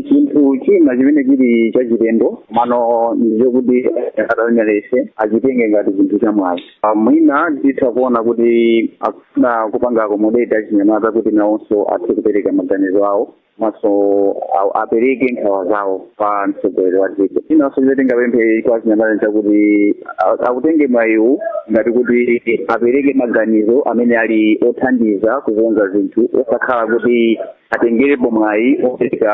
chinthu china chimene chili chachilendo komano ndicho kuti achinyamata analese achitenge ngati chinthu cha mwayi Ah, mwina titha kuona kuti akufuna kupanga akomodeti achinyamata kuti nawonso athe kupereka maganizo awo komanso a- apereke nkhawa zawo pa mtsogoleri wa dziko chinanso chimene tingapemphe kwa achinyamata n'chakuti a- akutenge mwayiwu ngati kuti apereke maganizo amene ali othandiza kukonza zinthu osakhala kuti atengerepo mwayi opereka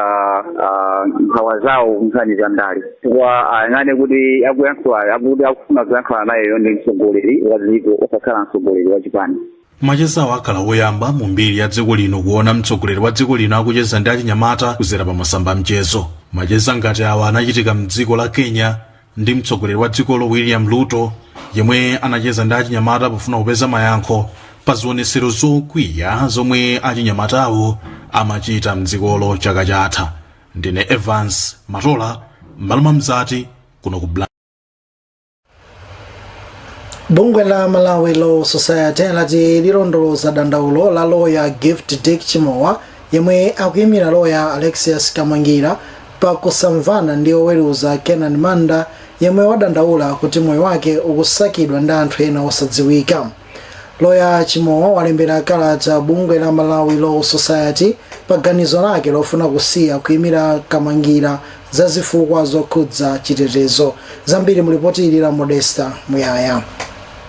ah, nkhawa zawo nkhani za ndale chifukwa ayang'ane kuti akuyankhula akuti akufuna kuyankhula nayeyo ndi mtsogoleri wa dziko osakhala mtsogoleri wa chipani machezawo akhala woyamba mu mbiri ya dziko lino kuona mtsogoleri wa dziko lino akucheza ndi achinyamata kuzera pa masamba a mchezo macheza ngati awa anachitika mdziko la kenya ndi mtsogoleri wa dzikolo william ruto yemwe anacheza ndi achinyamata pofuna kupeza mayankho pa zionetsero zokwiya zomwe achinyamatawo amachita mdzikolo chaka chatha ndine evans matola m'malo mwa mzati kuno ku Blantyre. bungwe la malawi law society lati lilondoloza dandaulo la loya gift dick chimowa yemwe akuyimira loya alexius kamangira pa kusamvana ndi oweruza Kenan Manda yemwe wadandaula kuti moyo wake ukusakidwa ndi anthu ena osadziwika. Loya Chimowa walembera kalata bungwe la Malawi Law Society pa ganizo lake lofuna kusiya kuimira Kamangira za zifukwa zokhudza chitetezo. Zambiri mulipoti ili la Modesta Muyaya.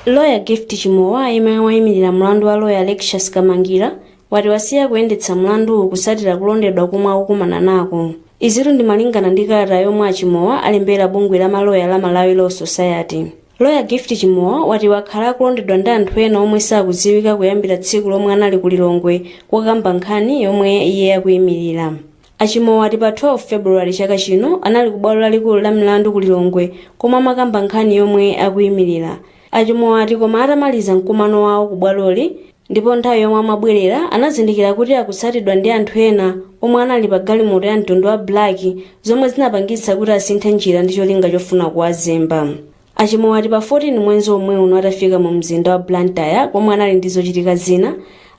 Loya Gift Chimowa yemwe waimirira mlandu wa loya Alexius Kamangira wati wasiya kuyendetsa mlanduwu kusatira kulondedwa komwe akukumana nako izitu ndi malingana ndi kalata yomwe achimowa alembera bungwe la maloya la malawi law society loya gift chimowa wati wakhala akulondedwa ndi anthu ena omwe sakudziwika kuyambira tsiku lomwe anali ku lilongwe kokamba nkhani yomwe iye akuyimirira A Chimowa ati pa 12 February chaka chino anali ku bwalo lalikulu la milandu ku Lilongwe komwe amakamba nkhani yomwe akuimilira. A Chimowa ati koma atamaliza mkumano wawo ku bwaloli ndipo nthawi yomwe amabwerera anazindikira kuti akutsatidwa ndi anthu ena omwe anali pa galimoto ya mtundu wa black zomwe zinapangitsa kuti asinthe njira ndi cholinga chofuna kuwazemba. A Chimowa ati pa 14 mwenzi omwe uno atafika mu mzinda wa Blantyre komwe anali ndi zochitika zina,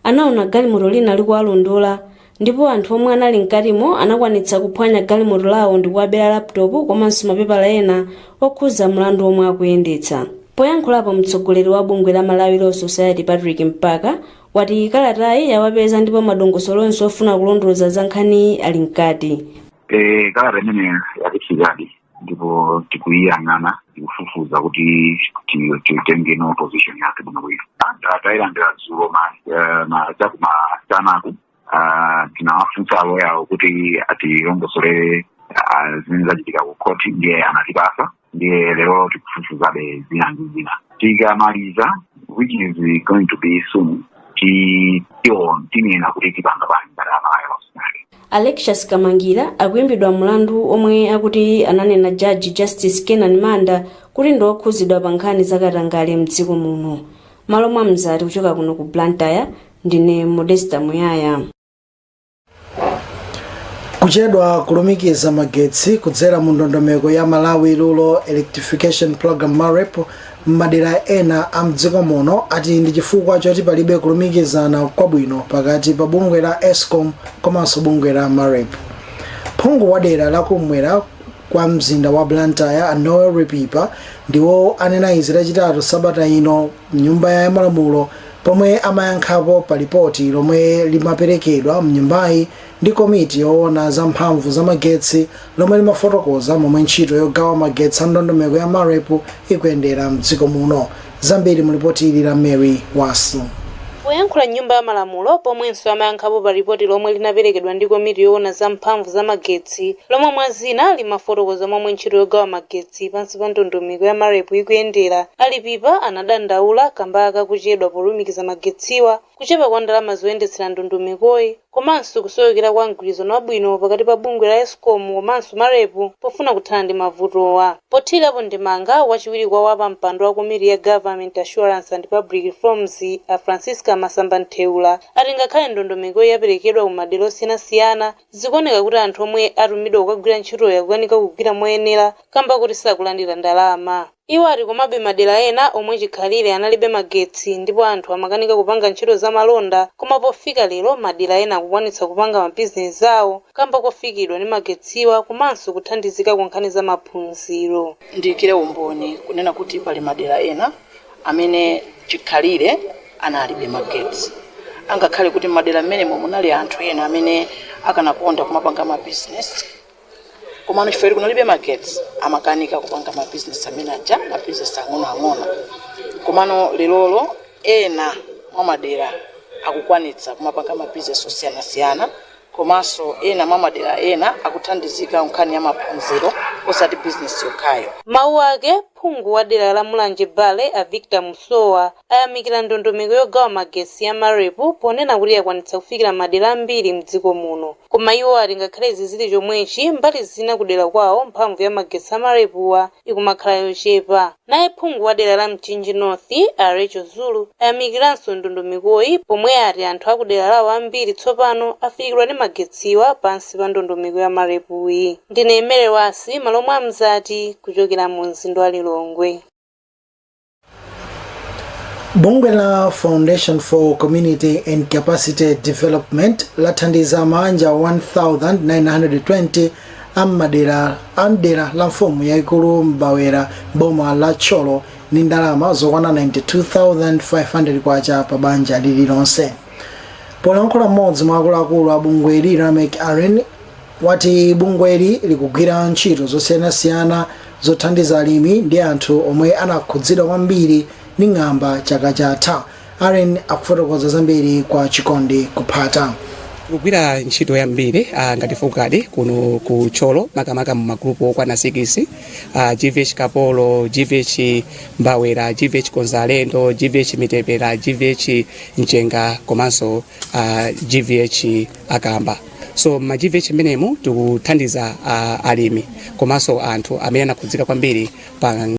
anaona galimoto lina likuwalondola ndipo anthu omwe anali mkatimo anakwanitsa kuphwanya galimoto lawo ndikuwabera laptop komanso mapepala ena okhuza mlandu omwe akuyendetsa poyankhulapo mtsogoleri wa bungwe la malawi law society patrick mpaka wati kalatayi yawapeza ndipo madongosolo onse ofuna kulondoloza za nkhaniyi ali mkati e kalata imene yatifikadi ndipo tikuyiyang'ana tikufufuza kuti ti- titenge no position yake bwino bwino Tayilandira dzulo ma eh, ma- chakumasanaku ah, tinawafunsa aloya awo kuti atilongosolere ah, zimene zachitika ku khoti ndiye anatipasa ndiye lero tikufufuzabe zina ndi zina tikamaliza which is going to be soon ti- tiona tinena kuti tipanga bwanji ngati amayo Alexious Kamangila akuimbidwa mlandu omwe akuti ananena Judge Justice Kenan Manda kuti ndi okhuzidwa pa nkhani za katangale mdziko muno. Malo mwa Mzati kuchoka kuno ku Blantyre, ndine Modesta Muyaya. kuchedwa kulumikiza magetsi kudzera mu ndondomeko ya malawi rural electrification program marep m'madera ena a mdziko muno ati ndi chifukwa choti palibe kulumikizana kwabwino pakati pa bungwe la escom komanso bungwe la marep phungu wa dera la kumwera kwa mzinda wa blantyre a noel lipipa ndiwo anena izi lachitatu sabata ino mnyumba ya malamulo pomwe amayankhapo pa lipoti lomwe limaperekedwa mnyumbayi ndi komiti yoona za mphamvu za magetsi lomwe limafotokoza momwe ntchito yogawa magetsi a ndondomeko ya MAREP ikuyendera m'dziko muno. Zambiri mu lipoti ili la Mary Wasu. Poyankhula m'Nyumba ya Malamulo, pomwenso amayankhapo pa lipoti lomwe linaperekedwa ndi komiti yoona za mphamvu za magetsi lomwe mwa zina limafotokoza momwe ntchito yogawa magetsi pansi pa ndondomeko ya MAREP ikuyendera, a Lipipa anadandaula kamba ka kuchedwa polumikiza magetsiwa. kuchepa kwa ndalama zoyendetsera ndondomekoyi komanso kusowekera kwa mgwirizano wabwino pakati pa bungwe la Escom komanso Marepu pofuna kuthana ndi mavutowa. Pothirirapo ndemanga, wachiwiri kwa wa pampando wa komiti ya Government Assurance and Public Reforms a Francisca Masamba Mtheula ati ngakhale ndondomekoyi yaperekedwa ku madera osiyanasiyana, zikuoneka kuti anthu omwe atumidwa kukagwira ntchitoyi akukanika kugwira moyenera kamba koti sakulandira ndalama. Iwo ati komabe madera ena omwe chikhalire analibe magetsi ndipo anthu amakanika kupanga ntchito za malonda koma pofika lero madera ena akukwanitsa kupanga mabizinesi awo kamba kofikidwa ndi magetsiwa komanso kuthandizika ku nkhani za maphunziro. Ndiikire umboni kunena kuti pali madera ena amene chikhalire analibe magetsi angakhale kuti m'madera mmenemo munali anthu ena amene akanakonda kumapanga mabizinesi. komano chifukwa choti kunalibe magetsi amakanika kupanga mabizinesi amene aja mabizinesi ang'onoang'ono komano lerolo ena mwa madera akukwanitsa kumapanga mabizinesi osiyanasiyana komanso ena mwa madera ena akuthandizika nkhani ya maphunziro osati bizinesi yokhayo M'mawu ake, phungu wa dera la Mulanje Bale a Victor Musowa ayamikira ndondomeko yogawa magetsi ya Marepu ponena kuti yakwanitsa kufikira madera ambiri mdziko muno. Koma iwo ati ngakhale izi zili chomwechi, mbali zina kudera kwawo mphamvu ya magetsi a marepuwa ikumakhala yochepa. Naye phungu wa dera la Mchinji North, a Rachel Zulu, ayamikiranso ndondomekoyi pomwe ati anthu a kudera lawo ambiri tsopano afikiridwa ndi magetsiwa pansi pa ndondomeko ya marepuyi. Ndine Mary Wasi, malo omwe a Mzati, kuchokera mu mzinda wa Lilongwe. bungwe la foundation for community and capacity development lathandiza maanja 1920 amdera la mfumu yaikulu mbawera m'boma la thyolo ndi ndalama zokwana 92500 kwacha pa banja lililonse polankhula mmodzi mwa akuluakulu a bungweli lameck aren wati bungweli likugwira ntchito zosiyanasiyana zothandiza alimi ndi anthu omwe anakhudzidwa kwambiri ndi ng'amba chaka chatha aren akufotokoza zambiri kwa chikondi kuphata kugwira ntchito yambiri ah, ngati focad kuno ku thyolo makamaka mu magrupu okwana 6 ah, gvh kapolo gvh mbawera gvh konzalendo gvh mitepera gvh mchenga komanso uh, GVH akamba so m'ma GVH amenemo tikuthandiza uh, alimi komanso anthu amene anakhudzika kwambiri pa